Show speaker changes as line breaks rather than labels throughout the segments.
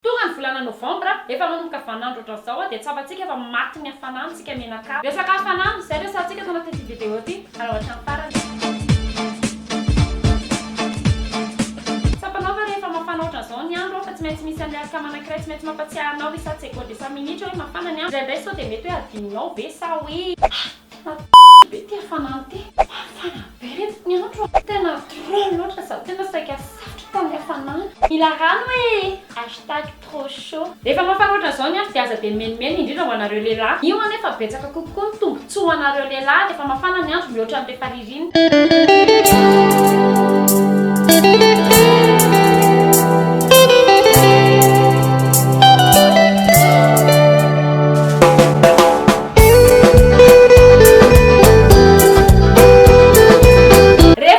Tonga ny volana novambra, efa manomboka vanandro ohatran'izao dia tsapantsika fa matin'ny hafanana isika menaka. Resaka hafanana, izay resahantsika ato anatin'ity video ity, alao hatramin'ny farany. Tsapanao va rehefa mafana ohatran'izao ny andro fa tsy maintsy misy an'ilay alikama anankiray tsy maintsy mampatsiahy anao isan-tsegondy isan-minitra hoe mafana ny andro? Indraindray sao dia mety hoe hadinonao ve sa hoe. Tena be ity hafanana ity. Mafana be reto ny andro a! Tena trop loatra za tena saika satroka ny hafanana. Mila rano ee! Hashtag trop chaud. Rehefa mafana ohatran'izao ny andro dia aza dia mimenimeny indrindra ho anareo lehilahy. Io anefa betsaka kokoa ny tombontsoa ho anareo lehilahy rehefa mafana ny andro mihoatra ny rehefa ririnina. Rehefa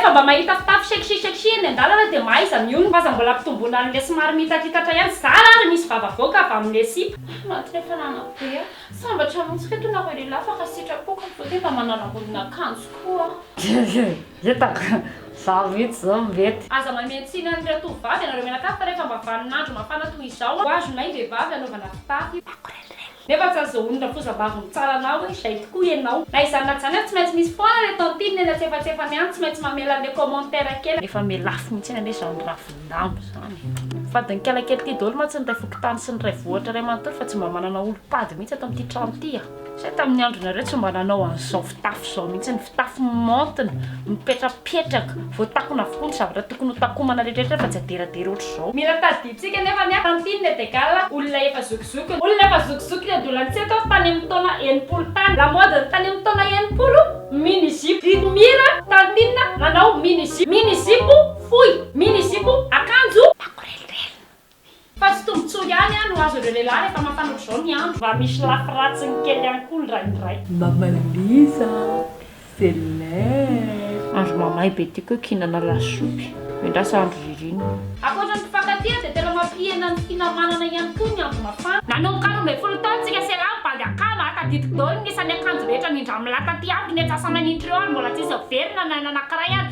mba mahita fitafy sexy sexy eny an-dalana dia mahaiza mionona f'aza mbola ampitomboina an'ilay somary mihitatitatra ihany zara ary misy vava avoaka avy amin'ilay sipa. Maty ny hafanana be a! Sambatra montsy reto nareo lehilahy fa raha sitrapoko ny beauté mba manala ambonina akanjo koa aho. Hitako
za mihitsy zao mety. Aza mamehy tsiny an'ny
ratovovavy ianareo mianakavy fa rehefa mba vanin'andro mafana toy izao ho azy mahay vehivavy anaovana fitafy nefa tsy azahoan'ny rafozambavy mitsara anao hoe izay tokoa ianao. Na izany na izany ary tsy maintsy misy foana le tantine nena tsefatsefany any tsy maintsy mamela le commentaire kely. Efa miha lafo mihitsy anie zany rafo. Ndamba izany e! Fadin-kiala kely ity daholo mantsy ny iray fokontany sy ny iray vohitra iray manontolo fa tsy mba manana olom-pady mihitsy ato amin'ity trano ity a! Izay tamin'ny andronareo tsy mba nanao an'izao fitafy izao mihitsy, ny fitafy maontina, mipetrapetraka, voatakona avokoa ny zavatra tokony hotakomana rehetrarehetra fa tsy aderadera ohatr'izao. Mila tadidintsika anefa ny Tantine et Egal, olona efa zokizokiny. Olona efa zokizokiny ny adolantsika ato, tany amin'ny taona enimpolo tany. Lamaodin'ny tany amin'ny taona enimpolo, mini-zipo. Didimira, Tantine, nanao mini-zipo. Mini-zipo. Fohy, mini zipo, akanjo. Makorelirelina. Fa tsy tombotsoa ihany an no azon'ireo lehilahy rehefa mafana ohatr'izao ny andro. Mba misy lafy ratsiny kely ihany koa ny raindray. Mama Liza
célèbre. Andro mamay be tiako hoe kihinana lasopy, miandrasa andro ririnina. Ankoatra ny mpifankatia
dia tena mampihena ny finamanana ihany koa ny andro mafana. Nanomboka roa ambin'ny folo taona tsika sy elah mibandy akanjo a tadidiko daholo ny isan'ny akanjo rehetra nindramina taty amiko ny atsasamanintreo ary mbola tsisy averina na ny anankiray ary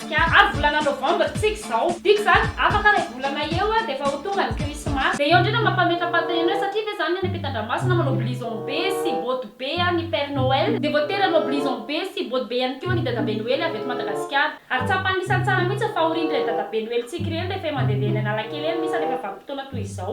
Ka ary volana novembre tsika izao. Tiako zany, afaka ray volana eo dia efa ho tonga ny krismasy. Dia eo indray no mampametapata enao satria ve zany ny any ampitandramasina manao blouson be sy bottes be ny père noël dia voatery hanao blouson be sy bottes be ihany koa ny dadabe noely avy eto madagasikara ary tsapa anisany tsara mihitsy ny fahoriany ireny dadabe noely tsika ireny rehefa eo mandehandeha eny analakely eny misy ary rehefa vanim-potoana toy izao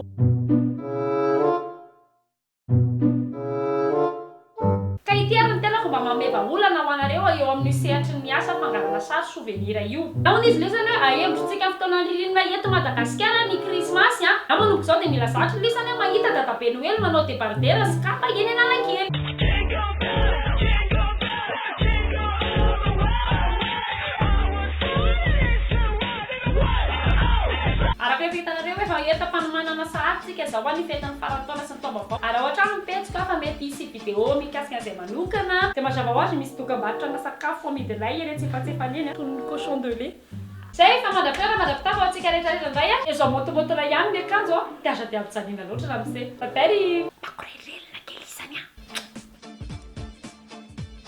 Ka ity ary ny tena fomba mameva olana ho anareo eo amin'io sehatry ny asa fangalana sary souvenir io. Nahoana izy ireo izany hoe ahembontsika amin'ny fotoanan'ny ririnina eto Madagasikara ny krismasy an! Izaho manomboka izao dia mila zatra lisany aho mahita Dadabe Noely manao debardera sy kapa eny Analakely. Araka efa hitanareo hoe hahita mpanomanana sahady. Midika izao ho an'ny fetin'ny faran'ny taona sy ny taom-baovao ary ao an-trano ny pejiko an, fa mety hisy video mikasika an'izay manokana. Dia mazava ho azy, misy dokambarotra ana sakafo amidy lay eny antsefatsefany eny an, toy ny cochon de lait. Zay efa mandra-pitoerana mandra-pitafy ho antsika rehetra rehetra indray an! Izao motomoto lay ihany ny akanjo an, dia aza dia ampijaliana loatra ramose. Bye bye ry. Makorelelina kely izany an!